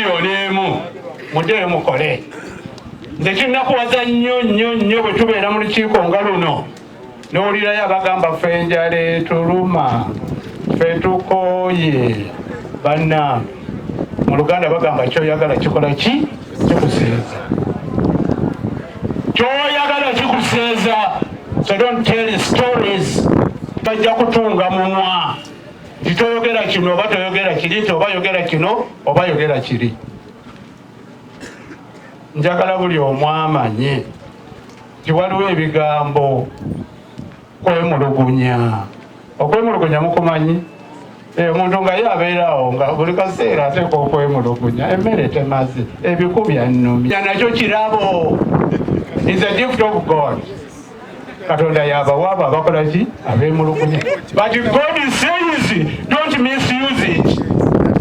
miliyoni emu mudeyo mukole nze kinakuwaza nnyo nnyo nnyo bwe tubeera mu lukiiko nga luno nowulirayo abagamba fe enjala etuluma fe tukooye banna mu luganda bagamba kyoyagala kikola ki kikusinza kyoyagala kikusinza so don't tell stories bajja kutunga mumwa nti toyogera kino oba toyogera kiri nti oba yogera kino oba yogera kiri njagala buli omu amanye nti waliwo ebigambo kwemulugunya okwemulugunya mukumanyi eh, omuntu nga ye abeerawo nga buli kaseera ateeka okwemulugunya emmere temazi ebikubyannumya nakyo kirabo is a gift of god katonda yabawa abo abakola ki abemulugunya but god says don't misuse it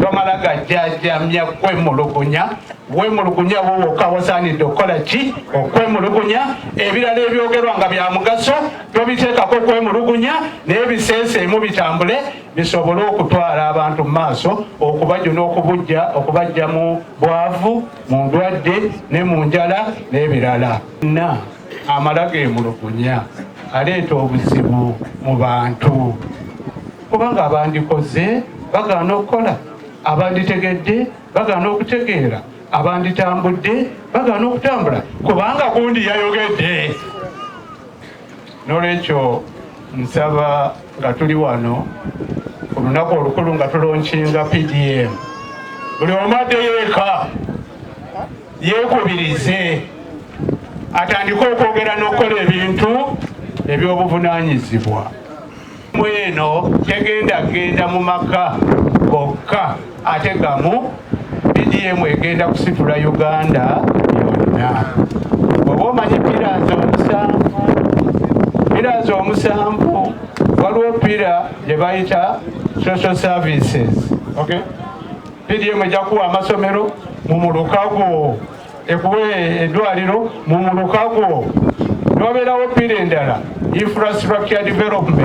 tomala gajjajamya kwemulugunya wemulugunya wowoka wasaanidde okukola ki okwemulugunya ebirala ebyogerwa nga bya mugaso tobiteekako okwemulugunya naye biseeseemu bitambule bisobole okutwala abantu mu maaso okubajuna okubujja okubajja mu bwavu mu ndwadde ne mu njala n'ebirala na amala gemulugunya aleeta obuzibu mu bantu kubanga abandikoze bagaana okukola abanditegedde bagaana okutegeera abanditambudde bagaana okutambula kubanga gundi yayogedde nolwekyo nsaba nga tuli wano olunaku olukulu nga tulonkinga pdm buli omu addeyo eka yeekubirize atandike okwogera n'okukola ebintu eby'obuvunaanyizibwa mweno tegenda genda mu maka gokka ate gamu bdm egenda kusitula uganda yonna oba omanyi pirazi omusanvu pirazi omusanvu waliwo pira gye bayita social services okay? pdm ejja kuwa amasomero mu muluka gwo ekuwe eddwaliro mu muluka gwo newabeerawo pira endala infrastructure development